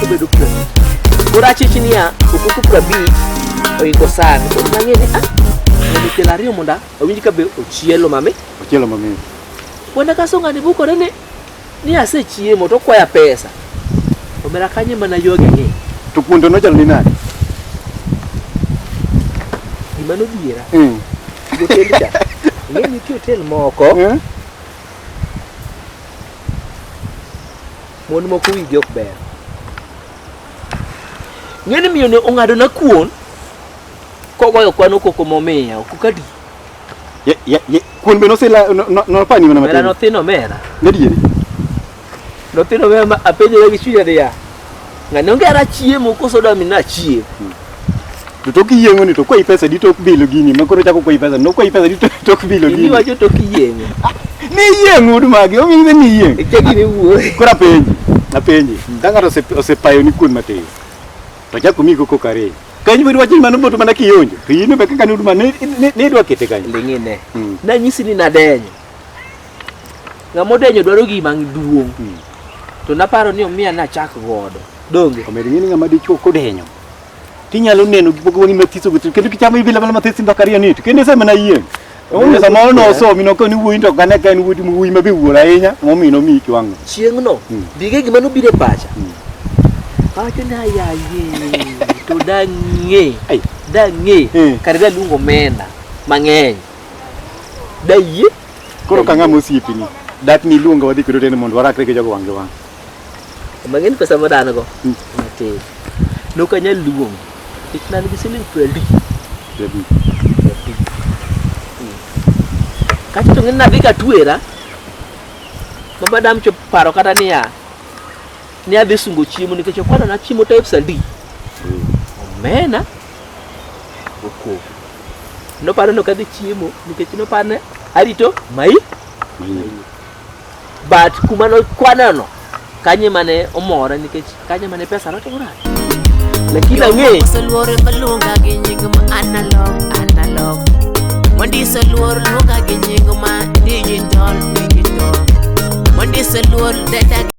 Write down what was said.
obedo kuom koro achich niya okuku prabich oiko san koro nang'e ni ah mondo kelo ariyo mondo awinj ka be ochielo mami Ochielo mamit. wanda kaso ng'ani bukore ni ni asechiemo to okwaya pesa omera kanye mana yogi ni To kuon to nochalo ni nade? gima nodhiera Mm. Jotend cha. Ing'e ni nitie hotel moko Eh? mon moko wigi ok ber. Ing'e ni miyoni ong'ado na kuon kogoyo kwano koko momiya ok kadi. Ye- ye- ye- Kuon be nosila no- no- nopani mana Mera matin. nothino mera. Gadieri. Notino mema apenjore gi chunya niya, ng'ani onge ara chiemo koso da mi nachie. To tok yieng'o ni to kwayi pesa di tok bilo gini ma koro chako kwayi pesa no kwayi pesa di to- tok bilo Gini gini. wacho tok yieng'o. Ni yieng'o ud magi omiyo ni yieng'. Eke gini wuoye. Koro apenji, apenji. Ka ng'ato ose- osepayo ni kuon matin. To chako omiyi koko kare. Ka in biro wacho ni mano boto mana kionjo. To in be kaka ni ud mani ni idwa kete kanyo. Ling'ine. Mm. Nanyisi ni nadenyo. Ng'ama odenyo dwaro gima duong'. Hmm. To naparo ni omiya nachak godo. Donge? Omed ng'e ni ng'ama dichuo kodenyo. Tinyalo neno gik moko mathiso mathiso kendo kichamo ibila bala mathiso ndaka riyo nito. Kendo ese mana yieng'. Omiyo samoro nosomi nokoni wuoyi to kane ka en wuodi wuoyi ma be wuor ahinya momiyo nomiyi kiwango. Chieng'no hmm. dige gima nobiro e pacha. Hmm. Pacho na yaye to dang'e. Dang'e. Kare daluongo mena mang'eny. Dayie. Koro ka ng'ama osiepini, dak ni iluonga wadhi kwedo tene mondo warakre gi jogo wang' gi wang'. Mang'in pesa ma dan go. Hmm. Matin. Nok anyal luong. Nikech nan gi siling piero adek. Piero adek. Hmm. Kacha to ng'in nadhi ka tuera. Ma madam chop paro kata niya. Ni adhi sungo chiemo nikech okwana na chiemo types adi. Hmm. Omena. Okogo. Noparo no kadhi chiemo nikech noparne arito mai but kuma nokwaneno kanye mane omora nikech kanye mane pesa notimora lakini ang'e Osoluore maluonga gi nying ma analog analog Mondiso luor luonga gi nying ma digital digital Mondiso luor denda gi